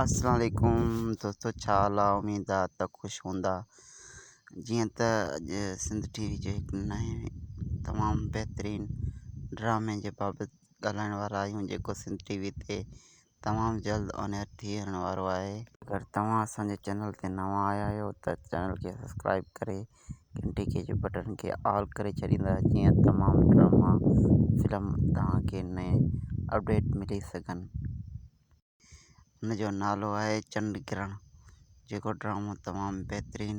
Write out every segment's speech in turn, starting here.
السلام عليڪم دوستو ڇا حال آ اميد آ ته خوش هوندا جيئن ته اڄ سنڌ ٽي وي جي نئين تمام بهترين ڊرامي جي بابت ڳالهائڻ وارا آهيون جيڪو سنڌ ٽي وي تي تمام جلد آن ايئر ٿي وڃڻ وارو آهي اگر توهان اسان جي چينل تي نوان آيا آهيو ته چينل کي سبسڪرائب ڪري گهنٽي کي جي بٽڻ کي آل ڪري ڇڏيندا جيئن تمام ڊراما فلم توهان کي نئين اپڊيٽ ملي سگهن. ان جو نالو آهي چنڊ گرهڻ جيڪو ڊرامو تمام بهترين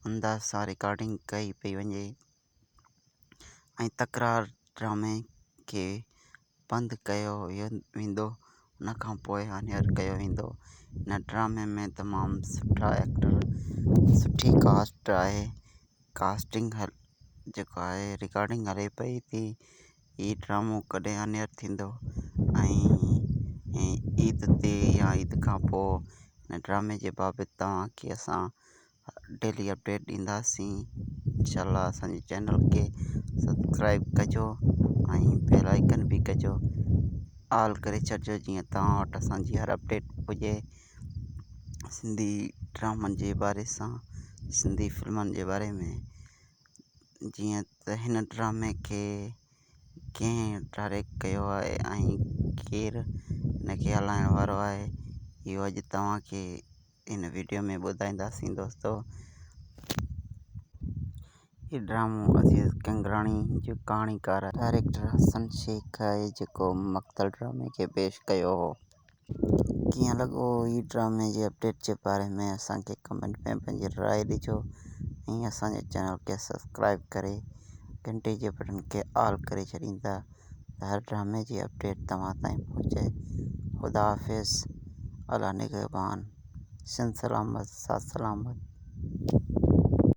انداز سان رڪارڊنگ ڪئي پئي وڃي ۽ تڪرار ڊرامي کي بند ڪيو ويندو ان کان پوء هانيار ڪيو ويندو ان ڊرامي ۾ تمام سٺا ايڪٽر سٺي ڪاسٽ آهي ڪاسٽنگ جيڪا آهي رڪارڊنگ هلي پئي ٿي هي ڊرامو ڪڏهن آن ايئر ٿيندو ۽ عيد تي يا عيد کان پوء هن ڊرامي جي بابت توهان کي اسان ڊيلي اپڊيٽ ڏينداسين انشاء الله اسانجي چينل کي سبسڪرائب ڪجو ۽ بيل آئڪن به ڪجو آل ڪري ڇڏجو جيئن توهان وٽ اسانجي هر اپڊيٽ پڄي سنڌي ڊرامن جي باري سان سنڌي فلمن جي باري ۾ جيئن ته هن ڊرامي کي ڪنهن ڊائريڪٽ ڪيو آهي ۽ ڪير هن کي هلائڻ وارو آهي اهو اڄ توهان کي هن ويڊيو ۾ ٻڌائينداسين دوستو هي ڊرامو عزيز ڪنگراڻي جو ڪهاڻيڪار ڊائريڪٽر حسن شيخ آهي جيڪو مقتل ڊرامي کي پيش ڪيو هو ڪيئن لڳو هي ڊرامي جي اپڊيٽ جي باري ۾ اسان کي ڪمينٽ ۾ پنهنجي راء ڏجو ۽ اسان جي چينل کي سبسڪرائب ڪري گهنٽي جي بٽن کي آل ڪري ڇڏيندا ته هر ڊرامي جي اپڊيٽ توهان تائين پهچي خدا حافظ الله نگهبان سنڌ سلامت ساٿ سلامت